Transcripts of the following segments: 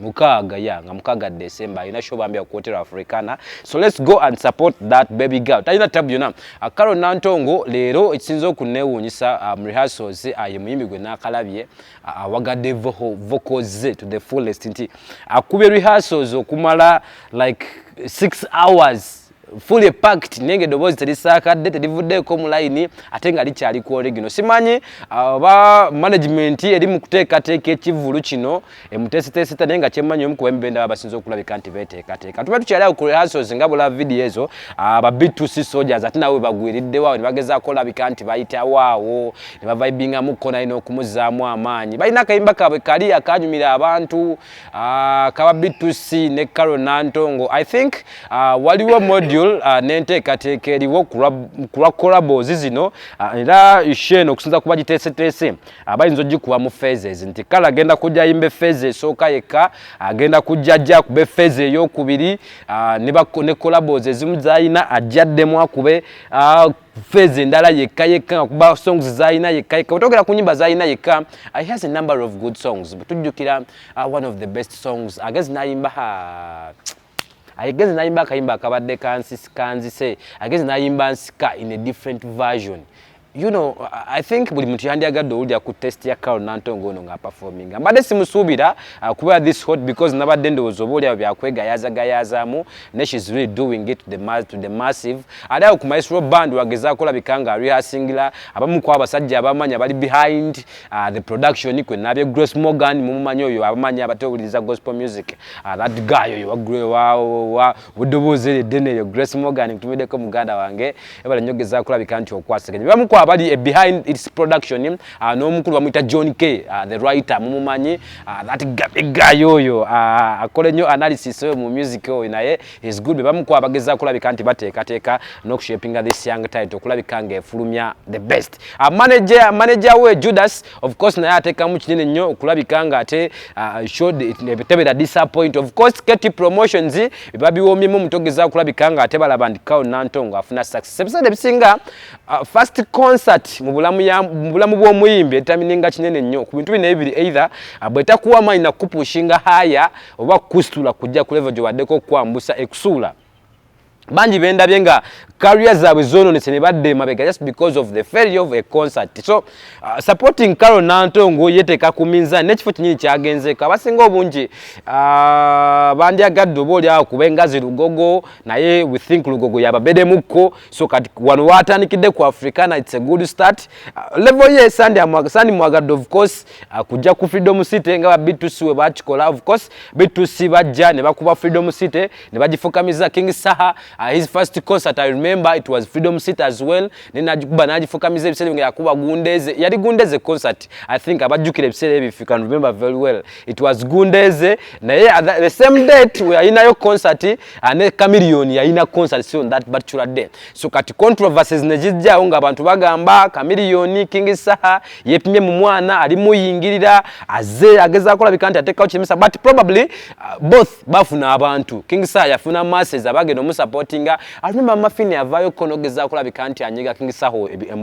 mukaaga ya nga mukaaga December alina show bambi ku Hotel Africana so let's go and support that baby girl talina tabu yona akaro nantongo leero ekisinza okunewunyisa um, rehearsals aye uh, muyimbi gwe nakalabye uh, awagadde uh, vocals to the fullest nti akube rehearsals okumala like 6 hours fully packed nenge dobozi telisakadde telivuddeko mu line ate nga likyali ku original simanyi uh, oba uh, management eri mu kuteekateeka ekivulu kino emuteeseteeseta naye nga kyemmanyi omu kuba emibenda baba basinza okulabika nti beteekateeka tuba tukyali awo ku rehearsals nga bula video ezo uh, ba b2c soldiers ate nabo webagwiriddewo awo ne bagezaako olabika nti bayitawo awo ne bavaibingamukko naye n'okumuzaamu amaanyi balina akayimba kaabwe kali akanyumira abantu Ah, kaba B2C ne Karo Nantongo I think ah, waliwo module ah, n'enteekateeka eriwo kulwa collabos zino era isheno okusinza kuba giteeseteese bayinza ogikuwa mu phases nti kale agenda kujja yimbe phase esooka yekka agenda kujja ajja akube phase eyokubiri ne collabos ezimu zalina ajja addemu akube fezi endala yekka yekka nga kuba songs zalina yekka yekka wetogera ku nyimba zalina yekka uh, he has a number of good songs butujjukira uh, one of the best songs agezi nayimba ha agezi nayimba akayimba akabadde kanzise agezi nayimba nsika in a different version you know i think buli muntu yandyagadde owulira ku test ya carol nantongo ono ngaaperforminga mbadde simusuubira uh, kuba this hot because nabadde ndowooza oba olyawo byakwegayazagayazaamu ne she's really doing it to the, mass, to the massive ate awo ku maestro band wagezaako olabika nga rehearsingla abamu ku abasajja abamanyi abali behind uh, the production kwe nabye grace morgan mumumanyi oyo abamanyi abatewuliriza gospel music uh, that guy oyo wagrewa budoboozi eryo eddene eryo grace morgan nkutumiddeko muganda wange ebala nnyo gezaako olabika nti okwasaganya bamu ku abali eh, behind its production uh, n'omukulu bamuyita john k uh, the writer mumumanyi Ah, that guy oyo ah, akole nyo analysis oyo mu music oyo naye is good bamukwa bageza kulabika nti bateka teka no shaping this young talent okulabika nge fulumya the best a ah, manager manager we Judas of course naye ateka mu kinene nyo okulabika nga ate uh, showed it tebe da disappoint of course KT promotions babi womye mu mutogeza kulabika nga ate balabandika nantongo afuna success episode bisinga Uh, first concert mu bulamu ya mu bulamu bw'omuyimbi etamininga kinene nnyo ku bintu bino ebiri either uh, bwetakuwa amaanyi nakukupushinga haya oba kukusitula kujja ku level gyobaddeko okukwambusa ekusuula bangi bendabye nga career zaabwe zononese ne badda emabega just because of the failure of a concert so uh, supporting carol nantongo yeteeka ku minzani nekifo kinyini kyagenzeeko abasinga obungi uh, bandyagadde oba olyawo kuba engazi lugogo naye we think lugogo yababedemukko so kati wano watandikidde ku africana its a good start uh, level ye sandi amwaga sandi mwagadde of course uh, kujja ku freedom city nga ba b2c we bakikola of course b2c bajja ne bakuba freedom city ne bagifukamiza king saha uh, his first concert i remember it was freedom city as well ne najikuba najifukamiza ebiseera nga yakuba gundeze yali gundeze concert i think abajjukira ebiseera ebyo if you can remember very well it was gundeze naye the same date we are in a concert ane ah, Chameleon yalina concerts on that particular day so kati controversies ne zijjawo ng'abantu bagamba Chameleon King Saha yepimye mu mwana ali muyingirira aze ageza akola bikanti atekawo kimisa but probably uh, both bafuna abantu King Saha yafuna masses abagenda mu supporting alumba mafini avayo konogeza akola bikanti anyiga King Saha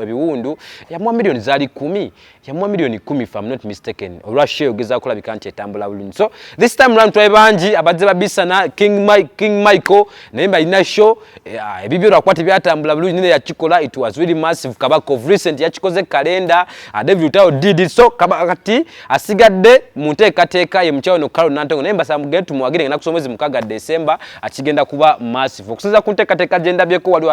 ebiwundu ya mwa million zali 10 yamuwa milioni kumi if I'm not mistaken olwa show ogeza kulabika nti etambula bulungi so this time round twaye bangi abadde babisana king mike king michael naye balina show eh, ah, ebibyo lwakuba tebyatambula bulungi nene yakikola it was really massive kabaka of recent yakikoze kalenda ah, david utayo did it so kati asigadde mu nteekateeka ye mukyawe no carol nantongo naye mbasaba mugende tumuwagire ngenda kusoma omwezi mukaga december akigenda kuba massive okusinza ku nteekateeka gyendabyeko waliwo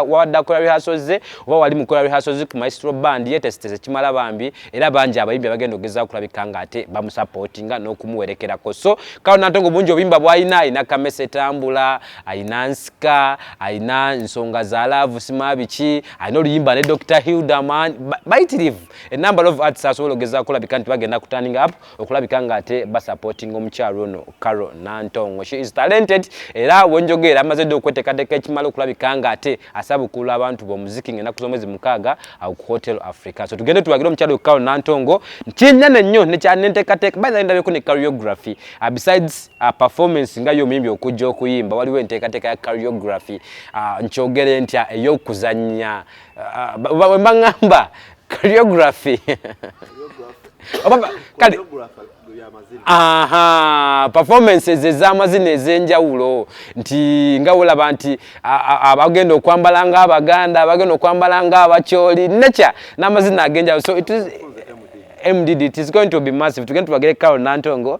wadde akulira rehearsals ze oba wali mukola rehearsals ku maestro band yetesitese kimala bambi era bangi abayimbi abagenda okugeza okulabika nga ate bamusupportinga n'okumuwerekerako so kalo natongo bungi obuyimba bwalina alina kamesa etambula alina nsika alina nsonga za laavu sima biki alina oluyimba ne dr hilderman bayitirivu enumber of arts asobola okugeza okulabika nti bagenda kutaninga up okulabika nga ate basupporting omukyalo ono Carol Nantongo she is talented era wenjogera amaze dde okweteekateeka ekimala okulabika nga ate asabukula abantu b'omuziki nga enaku z'omwezi mukaaga uh, ku Hotel Africa so tugende tuwagire omukyalo Carol Nantongo kyennyana nnyo nekyanenteekateeka baina ndabyeko ne choreography uh, besides uh, performance nga y'omuyimbi okujja okuyimba waliwo enteekateeka ya choreography uh, nkyogere ntya ey'okuzannya uh, uh, wemba ngamba choreography kale aha performances ez'amazina ez'enjawulo nti nga wolaba nti abagenda okwambala nga abaganda abagenda okwambala nga abakyoli nature n'amazina ag'enjawulo so it is MDD, it is going to be massive. Tugenda tubagere Carol Nantongo,